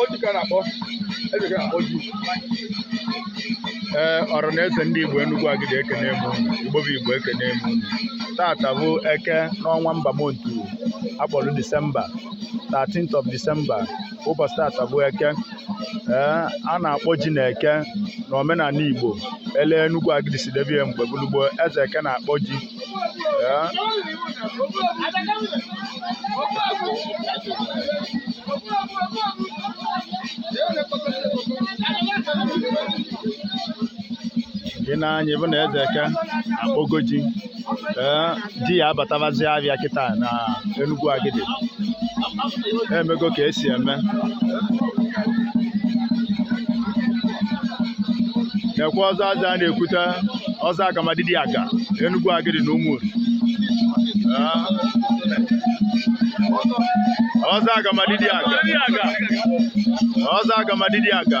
Ọ ji ka a na-akpọ eze eke na-akpọ ji ee ọra na eze ndị Igbo Enugwu Agidi ekene m unu Igbo bụ Igbo ekene m unu tata bụ eke n'ọnwa ember month a kpọlụ Disemba 13th of December ụbọchị tata bụ eke ee a na-akpọ ji na eke na omenana igbo ele enugwu agidi si debe ye mgbe gbulugbo eze eke na-akpọ ji ee gị n'anya ị fụ na eze eke akpọgo ji ee ji a abatabazia afịa kịta na Enugwu Agidi emego ka esi eme na-ekwe ọzọ aja a na-ekwute ọzọ agamadidi aga Enugwu Agidi na Umunri ọzọ agamadidi aga ọzọ agamadidi aga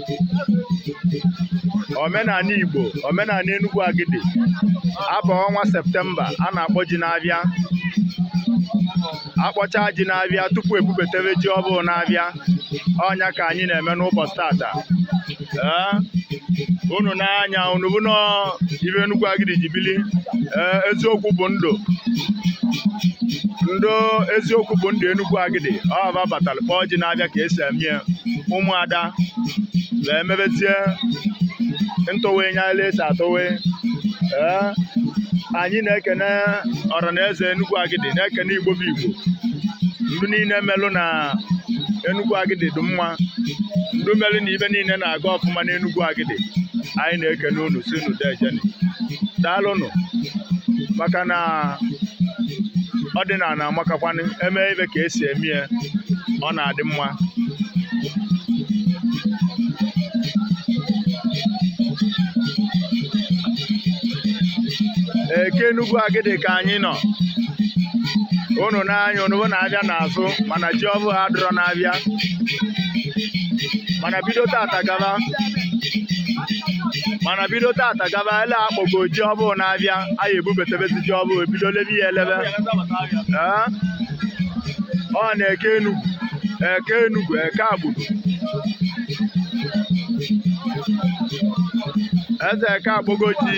omenani Igbo omenani Enugwu Agidi a baa ọnwa septemba a na-akpọ ji n'afịa a kpọcha ji n'afịa tupu ebubataba ji ọfụụ n'afịa ọ nya ka anyị na-eme n'ụbọchị tata ee unu n'anya unu fụ na ife Enugwu Agidi ji bili ee eziokwu bụ ndụ ndị eziokwu bụ ndụ Enugwu Agidi ọ babatara kpọọ ji n'afịa ka esi eme ya ụmụada wee mebezie ntụwe nya ele esi atụwe ee anyị na-ekene ọra na eze Enugwu Agidi na-ekene Igbo bụ Igbo ndị niine melụ na Enugwu Agidi dị mma ndị melụ na ife niine na-aga ọfụma na Enugwu Agidi anyị na-ekene unu sị unu dejeni daalụnụ maka na ọdịnana amakakwanụ e mee ife ka esi eme ya ọ na-adị mma eke Enugwu Agidi ka anyị nọ unu n'anya unu fụ na afịa na-azụ mana ji ọfụụ adịrọ n'afịa mana bido tata gaba mana bido tata gaba ele akpọgo ji ọfụụ n'afịa anyị ebubatabazi ji ọfụụ ebido lebe ya elebe ee ọ na eke enugwu eke enugwu eke akpọgo eze eke akpọgo ji